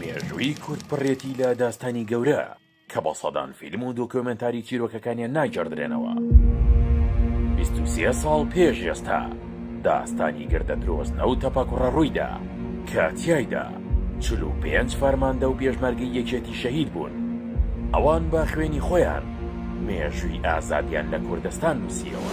مێژووی کورد پڕێتی لە داستانی گەورە، کە بە سەدان فیلم و دۆکیۆمێنتاری چیرۆکەکانیان ناگێڕدرێنەوە. بیست و سێ ساڵ پێش ئێستا، داستانی گردە درۆزنە و تەپەکوڕە ڕوویدا، کە تیایدا چل و پێنج فەرماندە و پێشمەرگەی یەکێتی شەهید بوون. ئەوان بە خوێنی خۆیان مێژووی ئازادیان لە کوردستان نووسییەوە.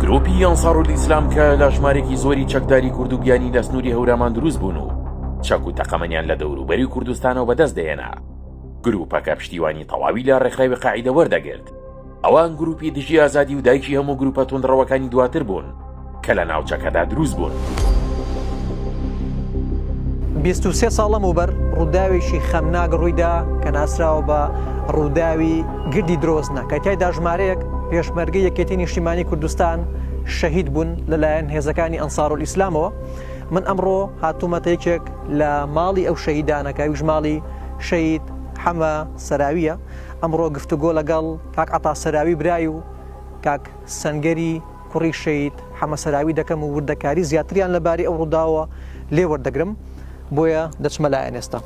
گروپی ئەنسارول ئیسلام کە لە ژمارێکی زۆری چەکداری کورد و گیانی لە سنووری هەورامان دروست بوون و چەک و تەقەمەنیان لە دەوروبەری کوردستانەوە بەدەست دێنا گروپەکە پشتیوانی تەواوی لە ڕێکخراوی قاعدە وەردەگرت ئەوان گروپی دژی ئازادی و دایکی هەموو گروپە تونندڕەوەکانی دواتر بوون کە لە ناوچەکەدا دروست بوون. بیست و سێ ساڵ لەمەوبەر ڕووداوێکی خەمناک ڕوویدا کە ناسراوە بە ڕووداوی گردی درۆزنە کە تایدا ژمارەیەک پێشمەرگە یەکێتی نیشتیمانی کوردستان شەهید بوون لەلایەن هێزەکانی ئەنسار و ئیسلامەوە من ئەمڕۆ هاتوومەتە یەکێک لە ماڵی ئەو شەهیدانەکە ویژماڵی شەید حەمە سەراویە ئەمڕۆ گفتوگۆ لەگەڵ کاک عتا سەراوی برای و کاک سنگەری کوڕی شەهید حەمە سەراوی دەکەم و وردەکاری زیاتریان لەبارەی ئەو ڕووداوە لێ وەردەگرم بۆیە دەچمە لایەن ئێستا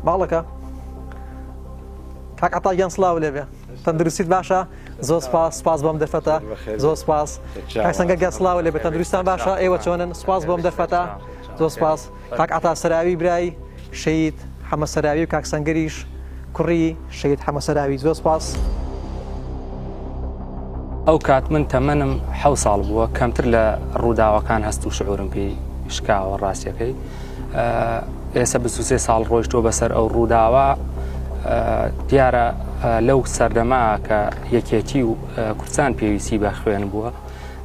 باڵەکە کاک عتاگیان سلااو لێبێ تەندروستیت باشە زۆر سپاس سپاس بۆم دەرفەتە زۆر سپاس سەنگە گەسلااو لێبێ تەندروستان باشە ئێوە چۆنن سپاس بۆم دەرفەتە زۆر سپاس. کاک عەتا سەراوی برای شەهید حەمە سەراوی و کاک سەنگەریش کوڕی شەهید حەمە سەراوی زۆر سپاس. ئەو کات من تەمەنم حەو ساڵ بووە کەمتر لە ڕووداوەکان هەست و شعورم پێی شکاوە ڕاستیەکەی ئێستا بسوسێ ساڵ ڕۆیشتۆ بەسەر ئەو ڕووداوە دیارە لەو سەردەما کە یەکێتی و کورسان پێویستی بە خوێن بووە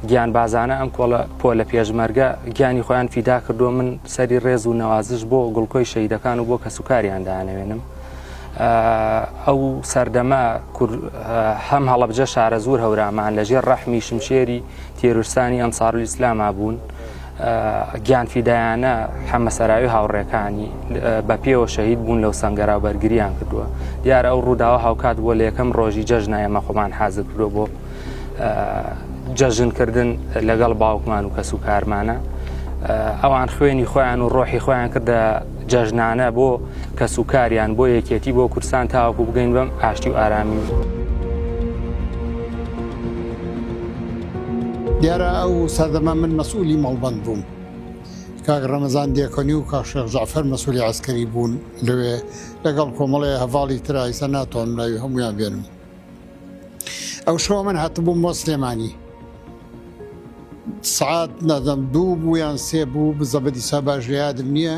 گیانبازانە ئەم کۆڵە پۆلە پێشمەرگە گیانی خۆیان فیدا کردووە من سەری ڕێز و نەوازش بۆ گوڵکۆی شەیدەکان و بۆ کەسوکاریان دانەوێنم ئەو سەردەمە هەم هەڵبجە شارە زۆر هەورامان لەژێر ڕەحمی شمشێری تێرورسانی ئەنسارل ئیسلاما بوون گیان فیدایانە حەمەسەراوی هاوڕێکانی بە پێوە شەهید بوون لەو سنگەرا بەرگریان کردووە دیار ئەو ڕووداوە هاوکات بووە لە یەکەم ڕۆژی جەژنایە مەخۆمان حازر کردووە بۆ جەژنکردن لەگەڵ باوکمان و کەس و کارمانە ئەوان خوێنی خۆیان و ڕۆحی خۆیان کردە جەژنانە بۆ کەس و کاریان بۆ یەکێتی بۆ کورسان تاوەکو بگەین بەم ئاشتی و ئارامی. دیارە ئەو سەردەمە من مەسئولی مەڵبند بووم کاک ڕەمەزان دێکۆنی و کاشێخ جعفەر مەسولی عسکەری بوون لەوێ لەگەڵ کۆمەڵی هەڤاڵی ترایسە ناتوانم ناوی هەمویان بێنم ئەو شەو من هاتبووم بۆ سلێمانی سعات نادەم دوو بوو یان سێ بوو بزەبدی سا باش لە یادم نییە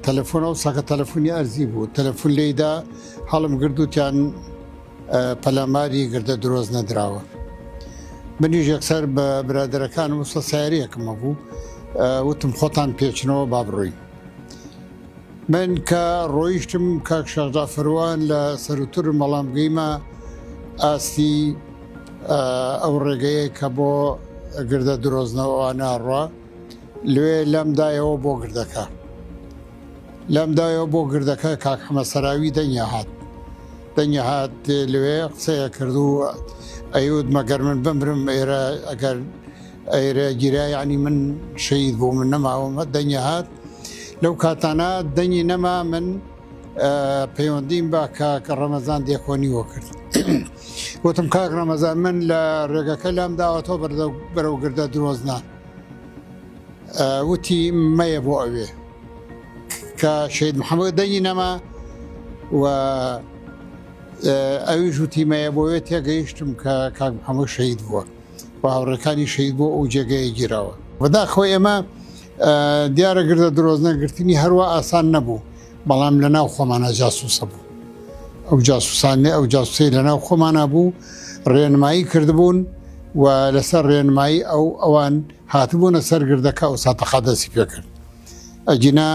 تەلەفۆن ئەو ساکە تەلەفۆنی ئەرزی بوو تەلەفۆن لێدا هەڵم گردووتیان پەلاماری گردە درۆز نەدراوە منیش یەکسەر بە برادەرەکانم وسە ساریەکەمە بوو وتم خۆتان پێچنەوە با بڕۆین من کە ڕۆیشتم کاک شاخدا فەروان لە سەروترم بەڵام گەیمە ئاستی ئەو ڕێگەیە کە بۆ گردە درۆزنەوە ناڕە لێ لەم دایەوە بۆ گردەکە لەم دایەوە بۆ گردەکە کاک حەمە سەراوی دەنگە هات دەنگە هات لێ قسەیە کردو ئەیوت مەگەر من بمرم ئێرە ئەگەر ئەرێ گیرا یەعنی من شەهید بووم من نەماوم دەنگی هات لەو کاتانە دەنگی نەما من پەیوەندیم بە کاک ڕەمەزان دێکۆنی وە کرد وتم کاک ڕەمەزان من لە ڕێگەکە لام داوەتۆ بەرەو گردە درۆزنان وتی مەیە بۆ ئەوێ کە شید محەممەد دەنگی نەما و ئەویش وتی مەیە بۆێ تێگەیشتم کە کاک محەممەد شەید بووە و هاوڕێکانی شەید بۆ ئەو جێگەیە گیراوە بەداخەوە ئێمە دیارە گردە درۆزنەگرتنی هەروە ئاسان نەبوو بەڵام لە ناو خۆمانە جاسوسە بوو ئەو جاسوسانێ ئەو جاسوسی لە ناو خۆمانە بوو ڕێنمایی کردبوون و لەسەر ڕێنمایی ئەو ئەوان هاتبوونە سەرگردەکە ئەو ساتەخا دەسی پێکرد ئەگینا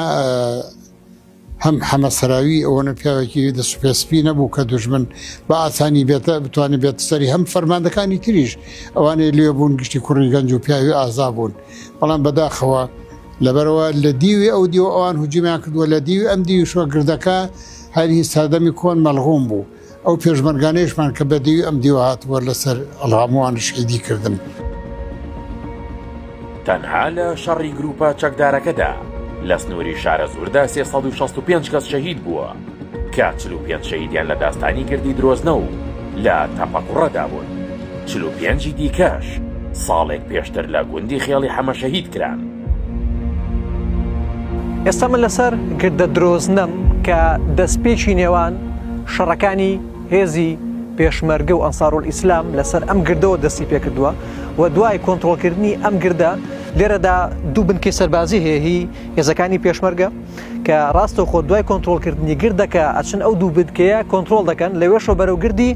هەم حەمە سەراوی ئەوەنە پیاوێکی دەست پێ سپی نەبوو کە دوژمن بە ئاسانی بێتە بتوانێت بێت سەری هەم فەرماندەکانی تریش ئەوانەی لێ بوون گشتی کوڕی گەنج و پیاوی ئازا بوون بەڵام بەداخەوە لەبەرەوە لە دیوی ئەو دیو ئەوان هجیمیان کردووە لە دیوی ئەم دیوشوە گردەکە هەری سەردەمی کۆن مەلغوم بوو ئەو پێشمەرگانەیشمان کە بە دێوی ئەم دیوە هاتبووە لە سەر ڵامووان شەیدی کردن. تەنها لە شەڕی گروپە چەکدارەکەدا لە سنووری شارەزووردا سێ سەد و شەست و پێنج کەس شەهید بووە کە چل و پێنج شەهیدیان لە داستانی گردی درۆزنە و لە تەپەقوڕەدا بوون چل و پێنجی دیکەش ساڵێک پێشتر لە گوندی خێڵی حەمە شەهید کران. ئێستا من لەسەر گردە درۆزنەم کە دەستپێکی نێوان شەڕەکانی هێزی پێشمەرگە و ئەنسارول ئیسلام لەسەر ئەم گردەوە دەستی پێکردووە و دوای کۆنتترۆلکردنی ئەم گردە لێرەدا دوو بنکەی سەربازی هەیە هی هێزەکانی پێشمەرگە کە ڕاستە خۆ دوای کۆنتترۆلکردنی گردەکە ئەچن ئەو دوو بدکەیە کۆنتترۆل دەکەن لەوێشەوە بەرەوگردی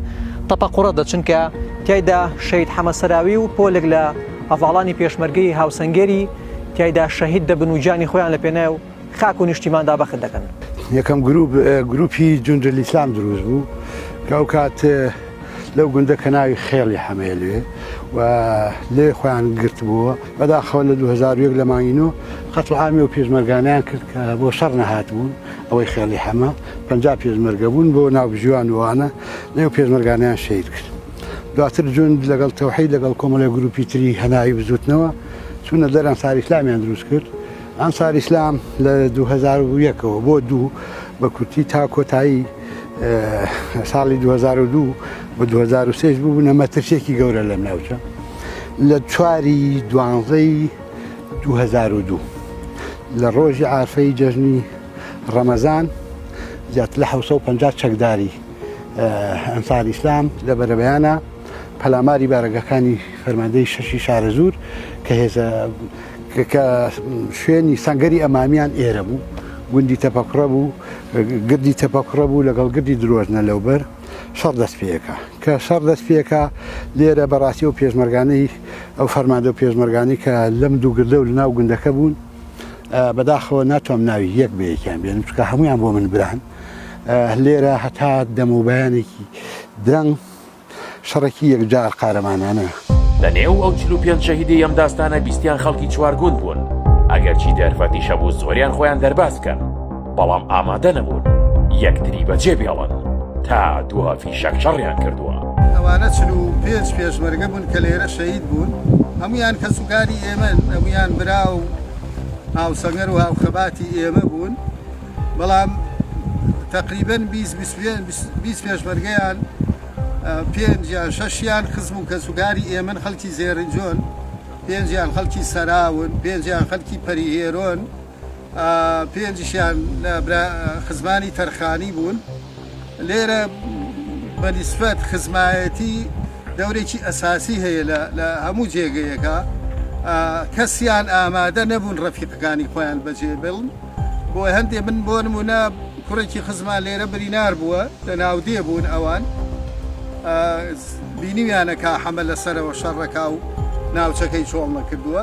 تەپەقڕە دەچنکە تایدا شەید حەمەسەراوی و پۆلێک لە هەڤاڵانی پێشمەرگەی هاوسەنگەری تیایدا شەهید دەبن و گیانی خۆیان لە پێناو خاک و نیشتیماندا بەخت دەکەن. یەکەم گروپ گروپی جوندەلئیسلام دروست بوو کە ئەو کات لەو گوندە کە ناوی خێڵی حەمەیە لەوێ و لێ خۆیان گرتبووە بەداخەوە لە 2001 لە مانگی نۆ قەتڵعامی و پێشمەرگانیان کرد کە بۆ شەڕ نەهات بوون ئەوەی خێڵی حەمە پنج پێشمەرگە بوون بۆ ناوبژیوان وانە لەو پێشمەرگانیان شەید کرد. دواتر جوند لەگەڵ تەوحید لەگەڵ کۆمەڵێک گروپی تری هەناوی بزوتنەوە چونە دەر ئەنساری ئیسلامیان دروست کرد ئەنساری ئیسلام لە 2001ەوە بۆ دوو بە کورتی تا کۆتایی ساڵی 2002 بە 2023 بوونە مەترسێکی گەورە لەم ناوچە لە چواری دوانزەی 2002 لە ڕۆژی ئارفەی جەژنی ڕەمەزان زیاتر لە 1950 چەکداری ئەنسار ئیسلام لە بەرەبەیانە پەلاماری بارەگەکانی فەرماندەی شەشی شارەزوور کە هێزە کە شوێنی سەنگەری ئەمامیان ئێرە بوو گوندی تەپەکڕە بوو گردی تەپەکڕە بوو لەگەڵ گردی درۆژنە لەوبەر شەڕ دەست پێەکە کە شەڕ دەست پێەکە لێرە بەڕاستی و پێشمەرگانەی ئەو فەرمادە و پێشمەرگانی کە لەم دوو گردە و لەناو گوندەکە بوون بەداخەوە ناتوام ناوی یەک بە یەکیان بێنم چکە هەمویان بۆ من بران لێرە هەتا دەموبیانێکی درەنگ شەڕێکی یەکجار قارەمانانە لە نێو ئەو چلو پێنج شەهیدی ئەم داستانە بیستیان خەڵکی چوارگوند بوون ئەگەرچی دەرفەتیشە بوو زۆریان خۆیان دەرباز بکەن. بەڵام ئامادە نەبوون یەکتری بەجێ بێڵن تا دوا فیشەک شەڕیان کردووە. ئەوانە چل و پێنج پێشمەرگە بوون کە لێرە شەهید بوون، هەموویان کەسوکاری ئێمەن، هەموویان برا و هاوسەنگەر و هاوخەباتی ئێمە بوون، بەڵام تەقریبەن بیست پێشمەرگەیان پێنج یان شەشیان خزم و کەسوکاری ئێمەن، خەڵکی زێرنجۆن، پێنجیان خەڵکی سەراون، پێنجیان خەڵکی پەریهێرۆن. پێنجشیان برا خزمانی تەرخانی بوون لێرە بە نسبەت خزمایەتی دەورێکی ئەساسی هەیە لە هەموو جێگەیەەکە کەسیان ئامادە نەبوون ڕەفیقەکانی خۆیان بەجێ بڵن بۆ هەندێ من بۆ نمونە کوڕێکی خزمان لێرە برینار بووە لە ناودێ بوون ئەوان بینیویانەکە حەمە لەسەرەوە شەڕەکە و ناوچەکەی چۆڵ نەکردووە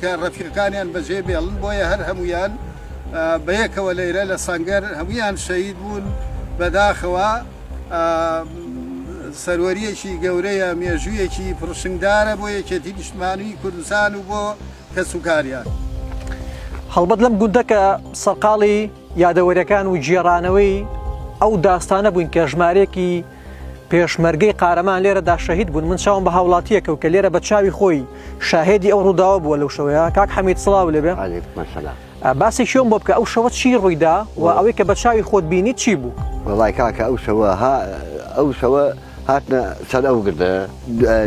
کە ڕەفیقانیان بەجێ بێڵن بۆیە هەر هەموویان بەیەکەوە لەیرە لە سەنگەر هەموویان شەید بوون بەداخەوە سەروەریەکی گەورەیە مێژوویەکی پڕشنگدارە بۆ یەکێتی نیشتمانی کوردستان و بۆ کەسوکاریان. هەڵبەت لەم گوندە کە سەرقاڵی یادەوەریەکان و گێڕانەوەی ئەو داستانە بووین کە ژمارەیەکی پێشمەرگەی قارەمان لێرەدا شەهید بوون من چاوم بە هاوڵاتیەکە و کە لێرە بە چاوی خۆی شاهێدی ئەو ڕووداوە بووە لەو شەوەیە کاک حەمید سڵاو لێبێ باسی شوێن بۆ بکە ئەو شەوە چی ڕوویدا و ئەوەی کە بە چاوی خۆت بینی چی بوو وڵای کاکە ئەو شەوە ها ئەو شەوە هاتنە سەر ئەو گردە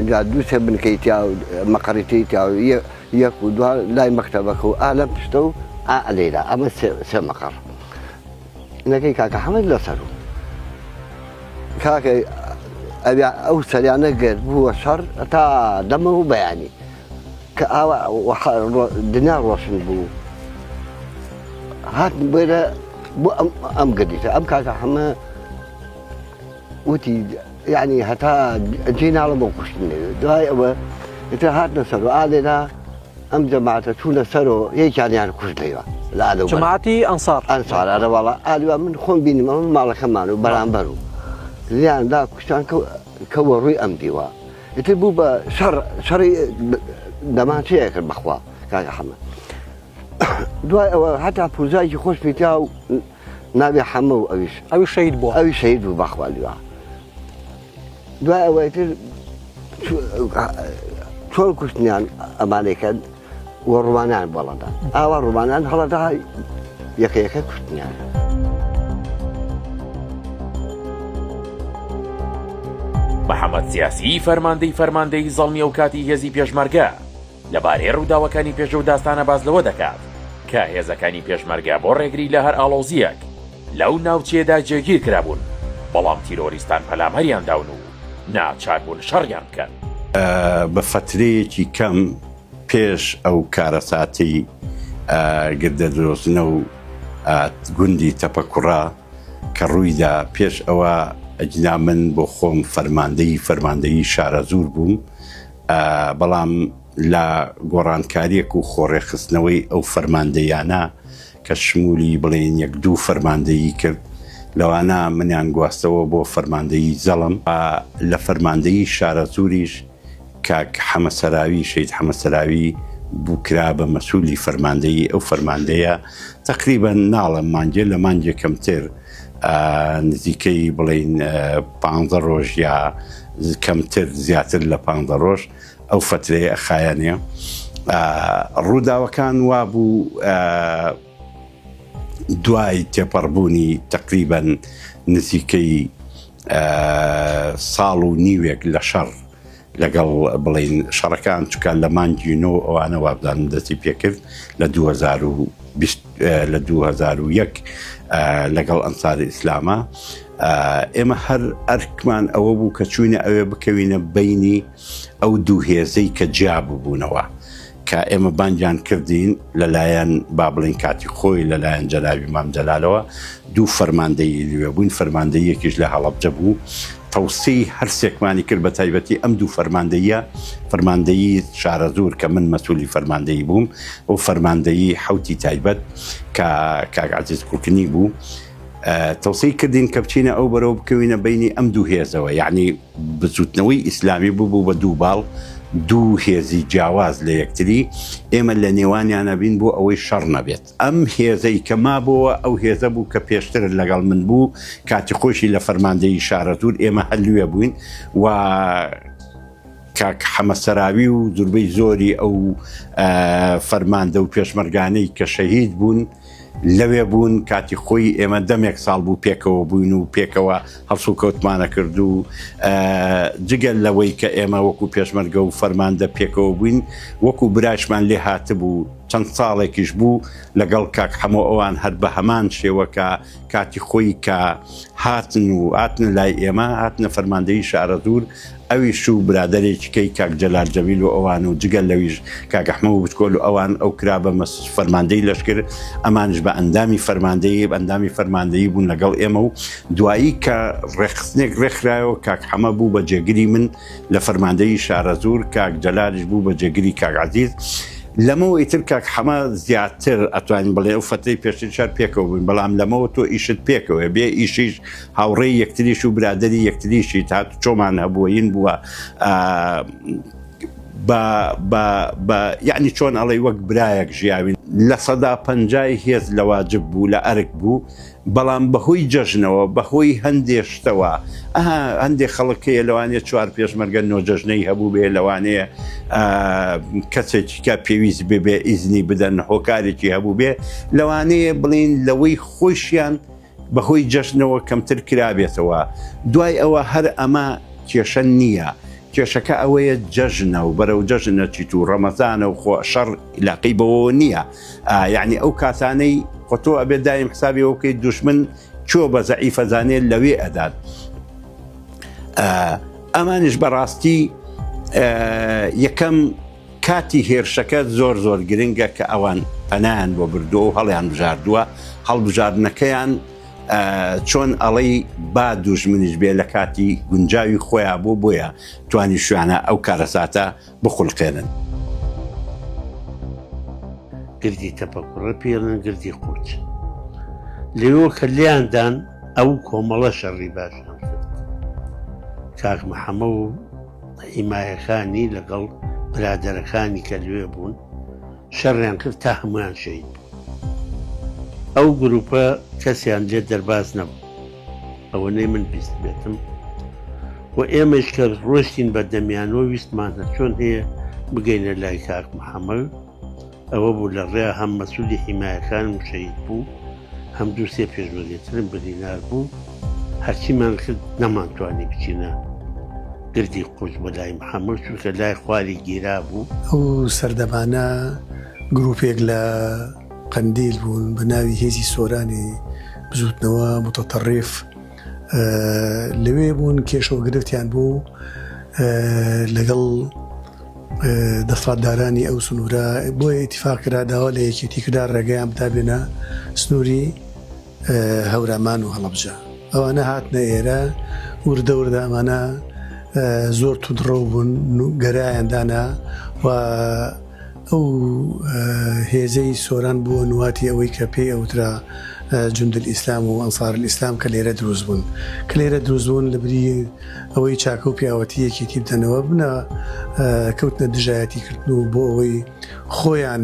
جا دوو سێ بنکەی تیا و مەقڕیتی تیا و یەک و دو لای مەکتتەبەکە و ئالەم پشتە و ئالێرا ئەمە سێ مەقڕ نەکەی کاکە حەمەد لەسەر و کاکە ئەویا ئەو سەریانە گرت بووە شەڕ تا دەمە و بەیانی کە ئاوا دنیا ڕۆشن بوو هات بێرە بۆ ئەم ئەم گەدیتە ئەم کاکە حەمە وتی یعنی هەتا جێ ناڵە بۆ کوشتنێ دوای ئەوە ئتر هاتنە سەر و ئالێدا ئەم جەماعەتە چوونە سەرۆ یەکیانیان کوشت لەیوە لە ئالە جماعتی ئەنسار ئەنسار ئەرەواڵە ئالوە من خۆم بینمە من ماڵەکەمان و بەرامبەر و لیاندا کوشتان کەوە ڕووی ئەم دیوە ئیتر بوو بە شەڕ شەڕی دەمان چێ کرد بەخوا کاگە حەمە دوای ئەوە هەتا پوزایکی خۆش پیتا و ناوی حەمە و ئەویش ئەوی شەید بوو ئەوی شەید بوو بەخوا لوا دوای ئەوەی تر چۆن کوشتنیان ئەمانێکە و ڕوانان بەڵەدا ئاوا ڕوانان هەڵەدا یەکە یەکە کوشتنیان. محەممەد سیاسی فەرماندەی فەرماندەی زەڵمی ئەو کاتی هێزی پێشمەرگە لەبارەی ڕووداوەکانی پێش ئەو داستانە باس لەوە دەکات کە هێزەکانی پێشمەرگە بۆ ڕێگری لە هەر ئاڵۆزییەک لەو ناوچەیەدا جێگیر کرابوون، بەڵام تیرۆریستان پەلاماریان داون و ناچار بوون شەڕیان بکەن. بە فەترەیەکی کەم پێش ئەو کارەساتەی گردە درۆزنە و گوندی تەپە کوڕە کە ڕوویدا، پێش ئەوە ئەگینا من بۆ خۆم فەرماندەی فەرماندەیی شارەزوور بووم، بەڵام لە گۆڕانکارییەک و خۆڕێکخستنەوەی ئەو فەرماندەییانە کە شمولی بڵێین یەک دوو فەرماندەیی کرد لەوانە منیان گواستەوە بۆ فەرماندەیی جەڵم، لە فەرماندەیی شارەزووریش کاک حەمە سەراوی، شەهید حەمە سەراوی، بوو کرا بە مەسولی فەرماندەیی، ئەو فەرماندەیە تەقریبەن ناڵێم مانگێ لە مانگێ کەمتر، نزیکەی بڵێین پانزە ڕۆژ یا کەمتر زیاتر لە پانزە ڕۆژ ئەو فترەیە ئەخایەنێ ڕووداوەکان وا بوو دوای تێپەڕبوونی تقریبەن نزیکەی ساڵ و نیوێک لە شەڕ لەگەڵ بڵێین شەڕەکان چکە لە مانگی نۆ ئەوانە وابزانم دەستی پێکرد لە 2020 لە 2001 لەگەڵ ئەنساری ئیسلامە ئێمە هەر ئەرکمان ئەوە بوو کە چوینە ئەوێ بکەوینە بینی ئەو دوو هێزەی کە جیا ببوونەوە کە ئێمە بانگیان کردین لەلایەن با بڵین کاتی خۆی لەلایەن جەنابی مام جەلالەوە دوو فەرماندەی لوێ بووین فەرماندەیەکیش لە هەڵەبجە بوو تەوسی هەرسێکمانی کرد بە تایبەتی ئەم دوو فەرماندەیە فەرماندەیی شارەزور کە من مەسوولی فەرماندەیی بووم و فەرماندەیی حوتی تایبەت کە کاگازیز کوکنی بوو تەوسی کردین کە بچینە ئەو بەرەو بکەوینە بینی ئەم دوو هێزەوە یعنی بزوتنەوەی ئیسلامی ببوو بە دوو باڵ، دوو هێزی جیاواز لە یەکتری، ئێمە لە نێوانیان ئەبین بۆ ئەوەی شەڕ نەبێت. ئەم هێزەی کە مابۆوە ئەو هێزە بوو کە پێشتر لەگەڵ من بوو، کاتی خۆیشی لە فەرماندەیی شارەزوور ئێمە هەر لوێ بووین و کاک حەمە سەراوی و زوربەی زۆری ئەو فەرماندە و پێشمەرگانەی کە شەهید بوون، لەوێ بوون کاتی خۆی ئێمە دەمێک ساڵ بوو پێکەوە بووین و پێکەوە هەڵسو کەوتمانە کرد و جگەل لەوەی کە ئێمە وەکو پێشمەرگە و فەرماندە پێکەوە بووین وەکو برایشمان لێ هاتبوو چەند ساڵێکیش بوو لەگەڵ کاک حەمۆ ئەوان هەر بە هەمان شێوەکە کاتی خۆی کە هاتن و هاتنە لای ئێمە هاتنە فەرماندەی شارەزور ئەویش و برادێکیکەی کاک جەلال جەویل و ئەوان و جگەل لەویش کاگەحمە و بچکۆل و ئەوان ئەو کرا بە مەس فەرماندەی لەشکر ئەمانش بە ئەندامی فەرماندەیە بەندامی فەرماندەیی بوون لەگەڵ ئێمە و دوایی کە ڕێخستنێک ڕێکخراەوە کاک حەمە بوو بە جێگری من لە فەرماندەیی شارەزوور کاک جەلالیش بوو بە جێگری کاک عەزیز. لەمەوەی تر کاک حەمە زیاتر ئەتوانین بڵێ ئەو فەترەی پێشتریش هەر پێکەوە بووین بەڵام لەمەوە تۆ ئیشت پێکەوەیە بێ ئیشیش هاوڕێی یەکتریش و برادەری یەکتریشیت هاتوچۆمان هەبووە ین بووە بە یعنی چۆن ئەڵێی وەک برایەک ژیاوین لە سەدا پەنجای هێز لە واجب بوو لە ئەرک بوو بەڵام بەهۆی جەژنەوە بەهۆی هەندێ شتەوە ئەها هەندێ خەڵک هەیە لەوانێ چوار پێشمەرگە نۆ جەژنەی هەبوو بێ لەوانەیە کەسێکیکە پێویست ببێ ئیزنی بدەن هۆکارێکی هەبوو بێ لەوانەیە بڵین لەوەی خۆشیان بەهۆی جەژنەوە کەمتر کرابێتەوە دوای ئەوە هەر ئەمە کێشە نییە کێشەکە ئەوەیە جەژنە و بەرەو جەژنە چیت و ڕەمەزانە و خۆ شەڕ علاقەی بەوە نییە یەعنی ئەو کاتانەی خۆ تۆ ئەبێت دایم حسابی ئەوە بکەیت دوشمن چۆ بە زەعیفە زانێت لەوێ ئەدات ئەمانش بەڕاستی یەکەم کاتی هێرشەکە زۆر زۆر گرنگە کە ئەوان پەنایان بۆ بردووە و هەڵیان بژاردووە هەڵبژاردنەکەیان چۆن ئەڵەی با دوژمنیش بێ لە کاتی گونجاوی خۆیان بۆ بۆیە توانی شوانە ئەو کارەساتە بخولقێنن. گردی تەپە کوڕە پێی ئەڵێن گردی قووت. لێوە کە لێیان دان ئەو کۆمەڵە شەڕی باشیان کرد. کاک محەمە و هیمایەکانی لەگەڵ برادەرەکانی کە لوێ بوون شەڕیان کرد تا هەمویان شەید بوو. ئەو گروپە کەسیان لێ دەرباز نەبوو. ئەوەنەی من بیست بێتم و ئێمەش کە ڕۆشتین بە دەمیانەوە ویستمان هە چۆن هەیە بگەینە لای کاک محەممەل ئەوە بوو لە ڕێ هەم مەسوودی حیمایەکان مشەید بوو هەم دوو سێ پێشمەرگەترم بەدینار بوو هەرچیمان کرد نەمانتوانی بچینە گردی قوچ بە لای محەممەد چونکە لای خواری گیرا بوو ئەو سەردەمانە گرروپێک لە قەندیل بوون بە ناوی هێزی سۆرانی بزوتنەوە متەتەڕیف لەوێ بوون کێشە و گرفتیان بوو لەگەڵ دەسڵاتدارانی ئەو سنوورە بۆیە ئیتیفاقرا داوا لە یەکێتی کرا ڕێگەیان بتابێنە سنووری هەورامان و هەڵەبجە ئەوانە هاتنە ئێرە وردە وردە ئەمانە زۆر تودڕە بوون گەرایاندانا و ئەو هێزەی سۆران بووە نواتی ئەوەی کە پێی ئەوترا جندل ئیسلام و ئەنسار ئیسلام کە لێرە دروست بوون کە لێرە دروستبوون لە بری ئەوەی چاکە و پیاوەتی یەکێتی بدەنەوە بنە کەوتنە دژایەتی کردن و بۆ ئەوەی خۆیان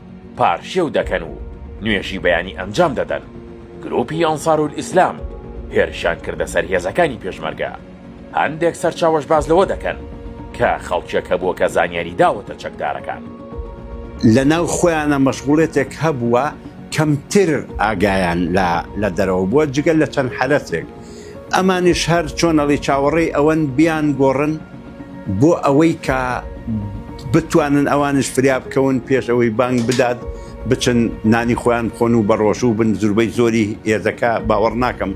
پارشێو دەکەن و نوێژی بەیانی ئەنجام دەدەن، گروپی ئەنسارولئیسلام هێرشیان کردە سەر هێزەکانی پێشمەرگە، هەندێک سەرچاوەش باس لەوە دەکەن کە خەڵکێک هەبووە کە زانیاری داوەتە چەکدارەکان. لە ناو خۆیانە مەشغوڵێتێک هەبووە کەمتر ئاگایان لە دەرەوە بووە جگە لە چەند حەرەسێک ئەمانیش هەر چۆنەڵی چاوەڕێی ئەوەن بیان گۆڕن، بۆ ئەوەی کە بتوانن ئەوانش فریا بکەون پێش ئەوەی بانگ بدات بچن نانی خۆیان بخۆن و بەڕۆژوو بن زوربەی زۆری ئێزەکە باوەڕ ناکەم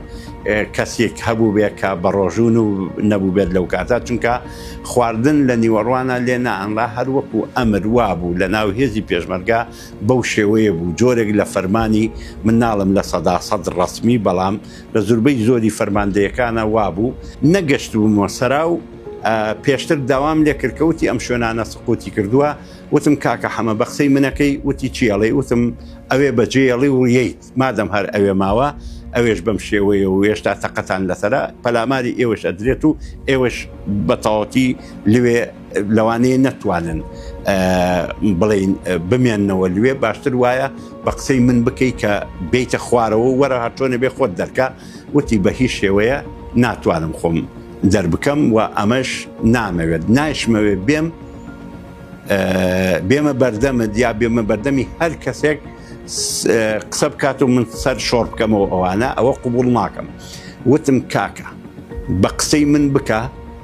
کەسێک هەبوو بێ کە بەڕۆژون و نەبوو بێت لەو کاتە چونکە خواردن لە نیوەڕوانە لێ نانرا هەر وەکو ئەمر وابوو لە ناو هێزی پێشمەرگا بەو شێوەیە بوو جۆرێک لە فەرمانی من ناڵم لە سەدا سەد ڕسمی بەڵام لە زوربەی زۆری فەرماندەیەکانا وابوو نەگەشتبوومە سەرا و پێشتر داوام لێ کرد کە وتی ئەم شوێنانە سقوتی کردووە وتم کاکە حەمە بە قسەی منەکەی وتی چیەڵێ وتم ئەوێ بەجێڵی وڵیت مادەم هەر ئەوێ ماوە ئەوێش بەم شێوەیە و هێشتا تەقەتان لەسرە پەلاماری ئێوەش ئەدرێت و ئێوەش بەتەواتی لەوێ لەوانەیە نەتوانن بڵین بمێنەوە لێ باشتر وایە بە قسەی من بکەیت کە بیتە خوارەوە وەرە هاتۆنە بێ خۆت دەرکە وتی بە هیچ شێوەیە ناتوانم خۆم دەربکەم و ئەمەش نامەوێت نایشمەوێ بێم بێمە بەردەمە دیا بێمە بەردەمی هەر کەسێک قسە بکات و من سەر شۆڕ بکەمەوە ئەوانە ئەوە قوبول ناکەم وتم کاکە بە قسەی من بکە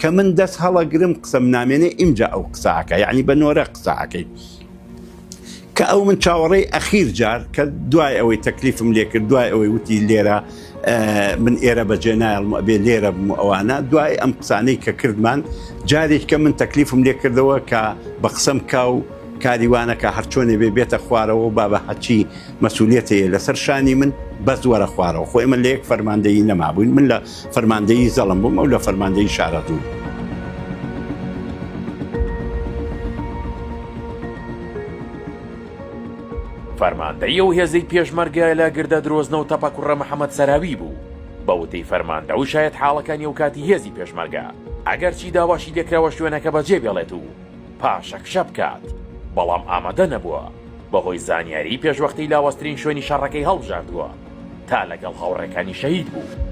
کە من دەست هەڵەگرم قسەم نامێنێ ئیمجا ئەو قساکە یعنی بە نۆرە قساکەی کە ئەو من چاوەڕێی ئەخیر جار کە دوای ئەوەی تەکلیفم لێکرد دوای ئەوەی وتی لێرە من ئێرە بەجێ نایڵم ئەبێ لێرە بم ئەوانە دوای ئەم قسانەی کە کردمان جارێک کە من تەکلیفم لێکردەوە کە بە قسەم کا و کاریوانەکە هەرچۆنێ بێ بێتە خوارەوە و بابە هەچی مەسوولێتەیە لەسەر شانی من بەس وەرە خوارەوە خۆ ئمە لە یەک فەرماندەیی نەمابووین من لە فەرماندەیی زەڵم بووم ئەو لە فەرماندەی شارەزوور. فەرماندەی ئەو هێزەی پێشمەرگە لە گردە درۆزنە و تەپە کوڕە محەمەد سەراوی بوو، بە وتەی فەرماندە و شایەتحاڵەکانی ئەوکاتی هێزی پێشمەرگە، ئەگەرچی داواشی لێکراوە شوێنەکە بەجێبێڵێت و پاشەکشە بکات، بەڵام ئامادە نەبووە، بەهۆی زانیاریی پێشوەختەی لاوازترین شوێنی شەڕەکەی هەڵبژاردووە. تا لەگەڵ هاوڕێکانی شەهید بوو.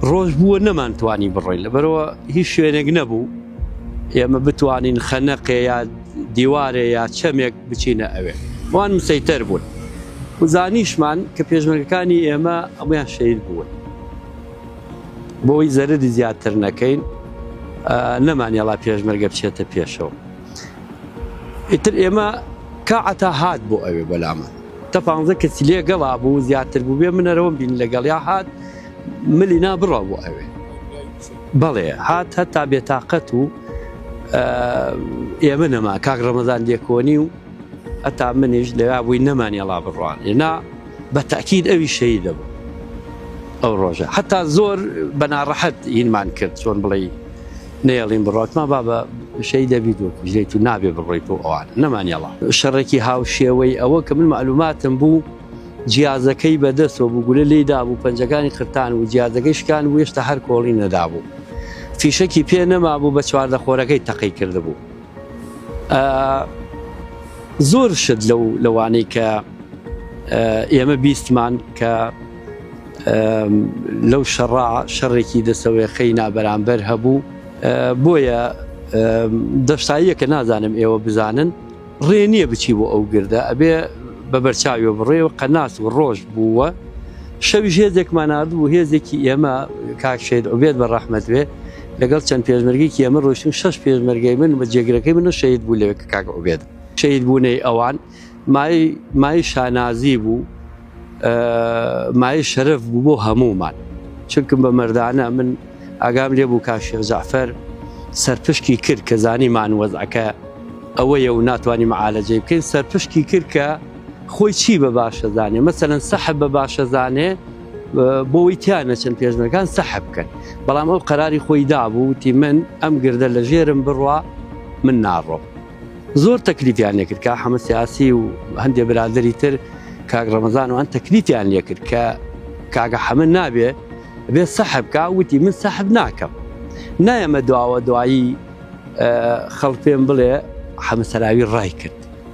ڕۆژ بووە نەمان توانی بڕۆین لەبەرەوە هیچ شوێنێک نەبوو ئێمە بتوانین خەنەقێ یا دیوارێ یا چەمێک بچینە ئەوێ وان مسەیتەر بوون وزانیشمان کە پێشمەرگەکانی ئێمە ئەمەیان شەید بوون بۆی زەرری زیاتر نەکەین نەمانیڵا پێشمەرگە بچێتە پێشەوە ئیتر ئێمە کاعتا هات بۆ ئەوێ بەلامان تە پانزە کەسی لێ گەڵا بوو زیاتر بوو بێ منەرەوەم بین لەگەڵیا هات ملی نا بڕە بۆ ئەوێ بەڵێ هات هەتا بێتاقەت و ئێمە نەما کاک ڕەمەزان لێکۆنی و هەتا منیش لەوا بووی نەمانیەڵا بڕوان ئێنا بە تاکیید ئەوی شەی دەبوو ئەو ڕۆژە هەتا زۆر بەناڕەحەت هینمان کرد چۆن بڵێ نەیەڵین بڕاتما بابە شەی دەبی دۆک بژێت و نابێ بڕۆیت و ئەوان نەمانیاڵا شەڕێکی هاوشێوەی ئەوە کە من معلوماتم بوو جیازەکەی بەدەستەوە بوو گولە لی دابوو پەنجەکانی قرتان و جیازەکەی شکان و هێشتا هەر کۆڵی نەدابوو فیشەکی پێ نەما بوو بە چواردە خۆرەکەی تەقی کردبوو زۆر شت لەو لەوانەی کە ئێمە بیستمان کە لەو شەڕا شەڕێکی دەسەوەیەخەی نابەرامبەر هەبوو بۆیە دەفساییە کە نازانم ئێوە بزانن ڕێ نییە بچی بۆ ئەو گردە ئەبێ بە بەرچاوی بڕێ و قەناس و ڕۆژ بووە شەوی هێزێکمانناردبوو هێزێکی ئێمە کاکشێت ئۆبێت بە ڕەحمەت وێ لەگەڵ چەند پێشمەرگەیەکی ئەمە ڕۆشتن شەش پێشمەرگەی من بە جێگرەکەی منە شەید بوو لەوێ کە کاک عوبێد شەید بوونەی ئەوان مای مای شانازی بوو مای شەرف بوو بۆ هەمومان چونکم بە مردانە من ئاگام لێ بوو کاشێ زعفەر سەرپشکی کرد کە زانی مانوەزعەکە ئەوەیە و ناتوانانی معالەجەی بکەین سەرپشکی کرد کە خۆی چی بە باشەزانێ مەسەەن سەحب بە باشەزانێ بۆی تیا نەچن پێشنەکان سەح بکەن بەڵام ئەو قەراری خۆی دابوو وتی من ئەم گردە لە ژێرم بڕوا من ناڕۆم زۆر تەکلیفیان لێکرد کە حەمە سیاسی و هەندێ برادری تر کاک ڕەمەزان و هەند تەکلیفیان لێکرد کە کاگە حەمە نابێ بێ سەحب کا وتی من سەحب ناکەم نایەمە دواوە دوایی خەڵپێن بڵێ حەمەسەراوی ڕای کرد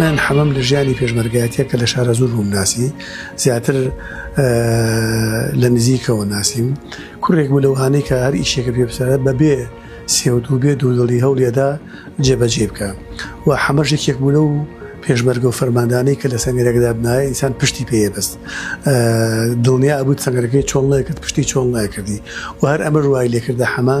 من حەمەم لە ژیانی پێشمەرگایەتیە کە لە شارەزوور بووم ناسی زیاتر لە نزیکەوە ناسیم کوڕێک بوو لەوانەی کە هەر ئیشێکە پێ بسەرە بەبێ سێودوو بێ دوودڵی هەوڵێدا جێبەجێ بکە و حەمەشێکێک بوو لەو پێشمەرگە و فەرماندانەی کە لە سەنگەرێکدا بنایە ئینسان پشتی پێە بەست دڵنیا بوو سەنگەرەکەی چۆڵنەکرد پشتی چۆڵ ناکردی و هەر ئەمە ڕوای لێکردە حەما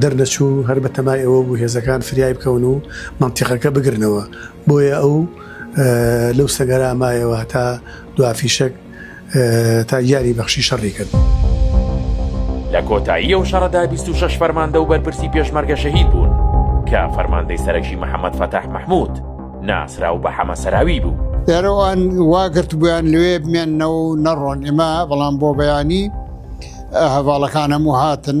دەرنەچوو هەر بە تەمای ئەوە بوو هێزەکان فریای بکەون و مەنتیقەکە بگرنەوە، بۆیە ئەو لەو سەنگەرە مایەوە هەتا دوا فیشەک تا گیانی بەخشی شەڕی کرد. لە کۆتایی ئەو شەڕەدا بیست و شەش فەرماندە و بەرپرسی پێشمەرگە شەهید بوون، کە فەرماندەی سەرەکی محەمەد فەتاح مەحموود ناسراو بە حەمە سەراوی بوو. دیارە ئەوان وا گرتبوویان لەوێ بمێننەوە و نەڕۆن، ئێمە بەڵام بۆ بەیانی هەڤاڵەکان هەموو هاتن،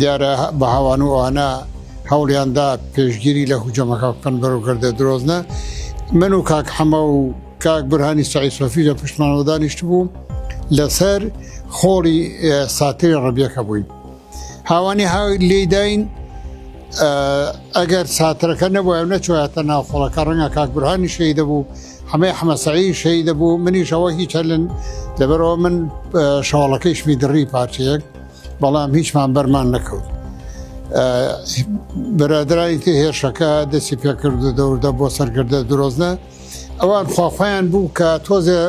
دیارە بەهاوان و ئەوانە هەوڵیاندا پێشگیری لە هجومەکە بکەن بەرەو گردە درۆزنە من و کاک حەمە و کاک برهانی سعی سۆفی لە پشتمانەوە دانیشت بوو لەسەر خۆڵی ساتری ڕبیەکە بووین هاوانی ها لێداین ئەگەر ساترەکە نەبووە نەچواتە ناوخۆڵەکە ڕەنگە کاک برهانی شەی دەبوو حەمەی ئەحمەسەعی شەیدە بوو منیش ئەوە هیچەلن لەبەرەوە من شەواڵەکەیش میدڕی پارچەیەک بەڵام هیچمان بەرمان نەکەوت. برادرانی تێ هێرشەکە دەستی پێکرد و دەوردە بۆ سەرکردە درۆزنە ئەوان خواخوایان بوو کە تۆزێ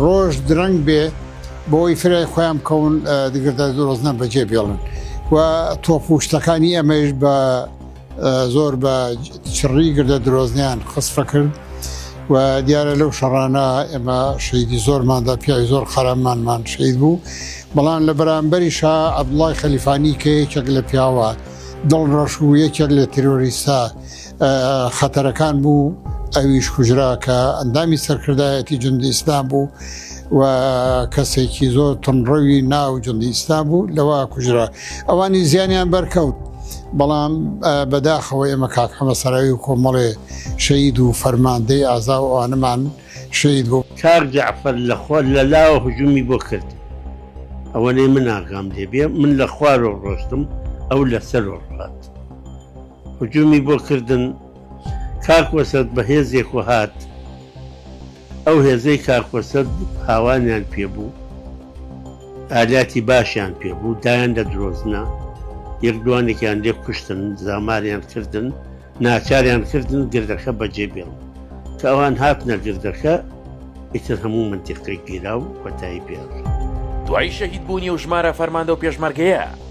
ڕۆژ درەنگ بێ بۆی فرای خۆیان بکەون دگردە درۆزنە بەجێ بێڵن و تۆپوشتەکانی ئەمەش بە زۆر بە چڕی گردە درۆزنیان خسفە کرد و دیارە لەو شەڕانە ئێمە شەیدی زۆرماندا پیاوی زۆر قەرەمانمان شەید بوو بەڵام لە بەرامبەری شا عبدڵای خەلیفانی کە یەکێک لە پیاوە دڵ ڕەش و یەکێک لە تیرۆریسا خەتەرەکان بوو ئەویش کوژرا کە ئەندامی سەرکردایەتی جند ئیسلام بوو و کەسێکی زۆر تونڕەوی ناو جندیستان بوو لەوە کوژرا ئەوانی زیانیان بەرکەوت بەڵام بەداخەوە ئێمە کاک حەمە سەراوی و کۆمەڵێ شەید و فەرماندەی ئازا و ئەوانەمان شەید بوو کاک جەعفەر لە خۆ لە لاوە هجومی بۆ کرد ئەوەنەی من ئاگام لێ بێ من لە خوارۆ ڕۆشتم ئەو لەسەر ڕات هجومی بۆ کردن کاک وەسەت بەهێزێک و هات ئەو هێزەی کاک قورسە هاوانیان پێ بوو ئالیاتی باشیان پێ بوو دایان لە درۆزنە یەک دوانێکیان لێ کوشتن زاماریان کردن ناچاریان کردن گردەکە بەجێ بێڵن کە ئەوان هات نەگردەکە ئیتر هەموو منتیقی گیرا و کۆتایی پێڕ دوای شەهید بوونی و ژمارە فەرماندە و پێشمەرگەیە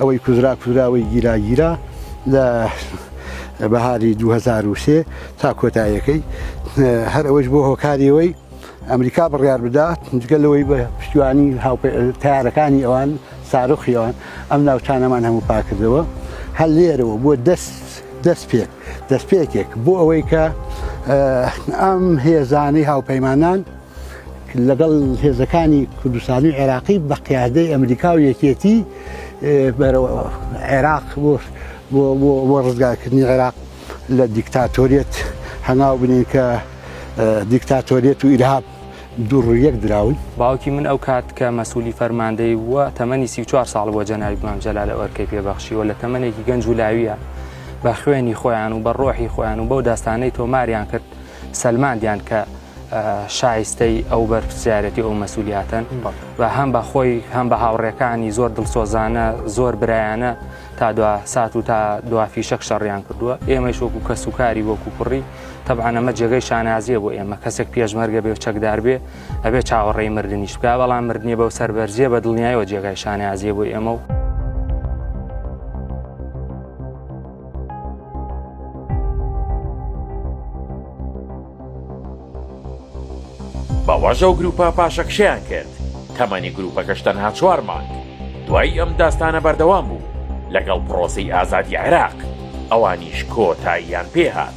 ئەوەی کوزرا کوزرا ئەوەی گیرا گیرا لە بەهاری دوو هەزار و سێ تا کۆتاییەکەی هەر ئەوەش بۆ هۆکاری ئەوەی ئەمریکا بڕیار بدات جگە لەوەی بە پشتیوانی تارەکانی ئەوان سارۆخی ئەوان ئەم ناوچانەمان هەموو پاکردەوە هەر لێرەوە بۆ دەست دەست پێک دەست پێکێک بۆ ئەوەی کە ئەم هێزانەی هاوپەیمانان لەگەڵ هێزەکانی کوردستانی و عێراقی بە قیادەی ئەمریکا و یەکێتی بەرەوە عێراق بۆ ڕزگارکردنی عێراق لە دیکتاتۆریت هەناو بنین کە دیکتاتۆریت و ئیرهاب دوڕ یەک دراون باوکی من ئەو کات کە مەسوولی فەرماندەی بووە تەمەنی سی چوار ساڵ بۆ جەناوی مام جەلا لە ئەرکەی پێبەخشیوە لە تەمەێکی گەنج و لاویە بە خوێنی خۆیان و بە ڕۆحی خۆیان و بەو داستانەی تۆماریان کرد سەلماندیان کە شایستەی ئەو بەرپسیارەتی ئەو مەسولیاتەن و هەم بە خۆی هەم بە هاوڕێکانی زۆر دڵسۆزانە زۆر برایانە تا دو سات و تا دوافی شەک شەڕیان کردووە ئێمەش وەکو کەس و کاری وەکو کوڕی تەبانەمە جێگەی شانازیە بۆ ئێمە کەسێک پێشمەرگە بێ و چەکدار بێ ئەبێ چاوەڕێی مردنیش بکە بەڵام مردنی بەو سەربەرزیە بە دڵنیایەوە جێگای شانازیە بۆ ئێمە و بەوەش ئەو گروپە پاشەکشەیان کرد تەمەنی گروپەکەش تەنها چوار مانگ دوای ئەم داستانە بەردەوام بوو لەگەڵ پرۆسی ئازادی عێراق ئەوانیش کۆتاییان پێهات.